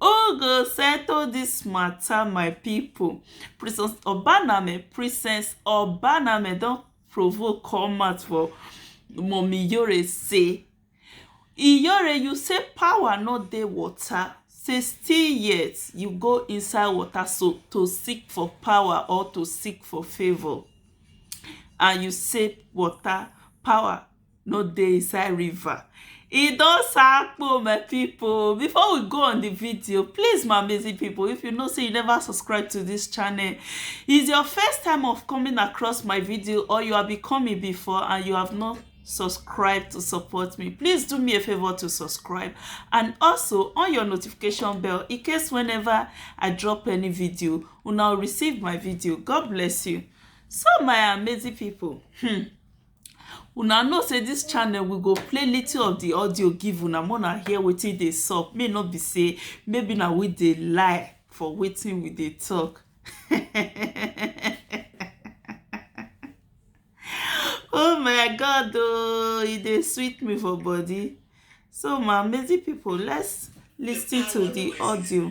Who go settle this matter my people Princess Obaname Princess Obaname don provoke come out for Mummy Yore say Iyore you say power no dey water say still yet you go inside water so to seek for power or to seek for favour and you say water power no dey inside river e don sakpo my people before we go on the video please my amazing people if you know say you never subscribe to this channel is your first time of coming across my video or you have become me before and you have not subscribe to support me please do me a favor to subscribe and also on your notification bell in case whenever i drop any video you now receive my video god bless you so my amazing people hmm Una know say this channel we go play little of the audio give una make una hear wetin dey sup make no be say maybe na we dey lie for wetin we dey talk. oh my god oh e dey sweet me for body so my amazing people let's listen to the audio.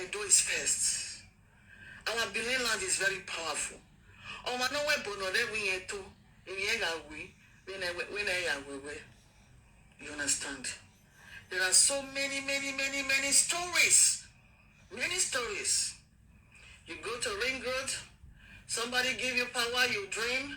Edo is first. Our Benin land is very powerful. Ọma no we bono re we yen to. Emi e ga we. When I when I ya we we. You understand? There are so many, many, many, many stories. Many stories. You go to Ring Road, somebody give you power, you dream,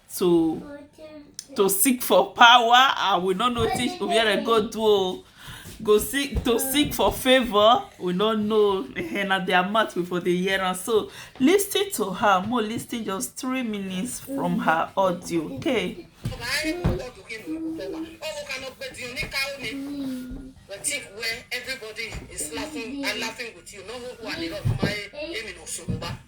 to to seek for power and we no know wetin obiere go do o go seek to seek for favour we no know eh, na their mouth we for dey hear am so lis ten to her mo lis ten just three minutes from her audio okay. Think where everybody is laughing and laughing with you. No, who are the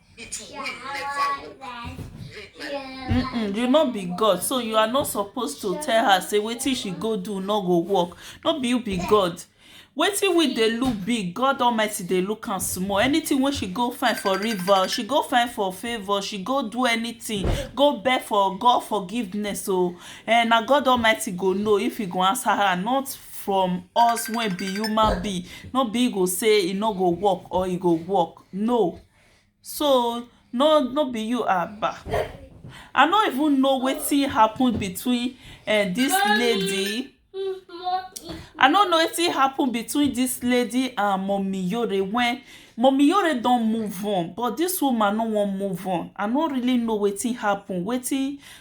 It will never work. Mm-mm, you no be god so you are not supposed to tell her say wetin she go do no go work no be you be god wetin we dey look big god almighty dey look am small anything wey she go find for river she go find for favour she go do anything go beg for god forgiveness o oh. and na god almighty go know if he go answer her not from us wey be human being no be go say e no go work or e go work no so no no be you aba i no even know wetin happen between uh, this lady i no know wetin happen between this lady and mommy yore when mommy yore don move on but this woman no wan move on i no really know wetin happen wetin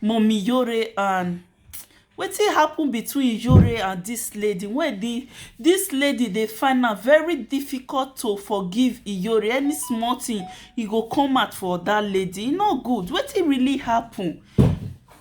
Mummy Yore and wetin happen between Yore and this lady wey be this lady dey find am very difficult to forgive Iyore any small thing e go come out for that lady e no good wetin really happen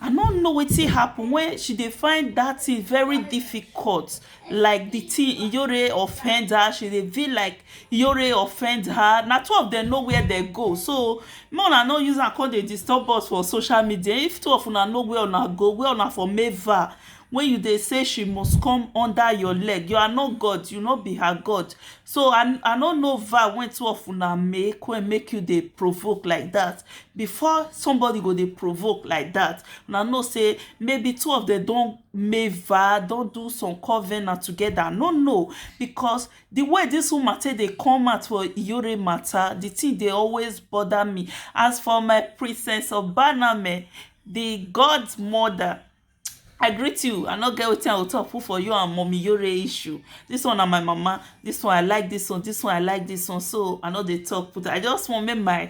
I no know wetin happen wey she dey find that thing very difficult like the thing Iyore offend her, she dey feel like Iyore offend her. Na two of them know where they go. So make una no use am come dey disturb us for social media. If two of una know where una go, where una for meva wey you dey say she must come under your leg. You are not God, you no be her God. So I I no know va wey two of una make wey make you dey provoke like that. Before somebody go dey provoke like that, una know say maybe two of them don Meva don do some covenant together, I no know because the way this woman take dey come out for Iyore matter, the thing dey always bother me. As for my princess Obaname, the godmother, I greet you, I no get wetin I go talk put for you and mommy Iyore issue. This one na my mama, this one I like this one, this one I like this one, so I no dey talk put. I just want make my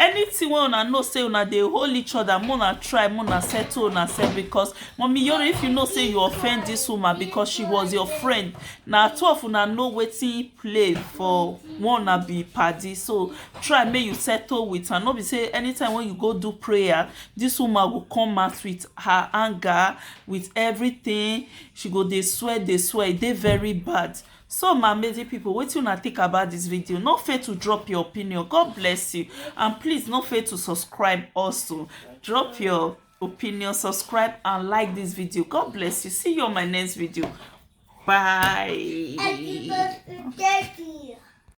Anything wey una know say una dey hold each other make una try make una settle una self because mummy yoro if you know say you offend this woman because she was your friend na two of una know wetin play for one una be padi so try make you settle with am no be say anytime wey you go do prayer this woman go come out with her anger with everything she go dey swear dey swear e dey very bad So my amazing people wetin una think about this video no fail to drop your opinion God bless you and please no fail to subscribe also drop your opinion subscribe and like this video God bless you see you on my next video bye.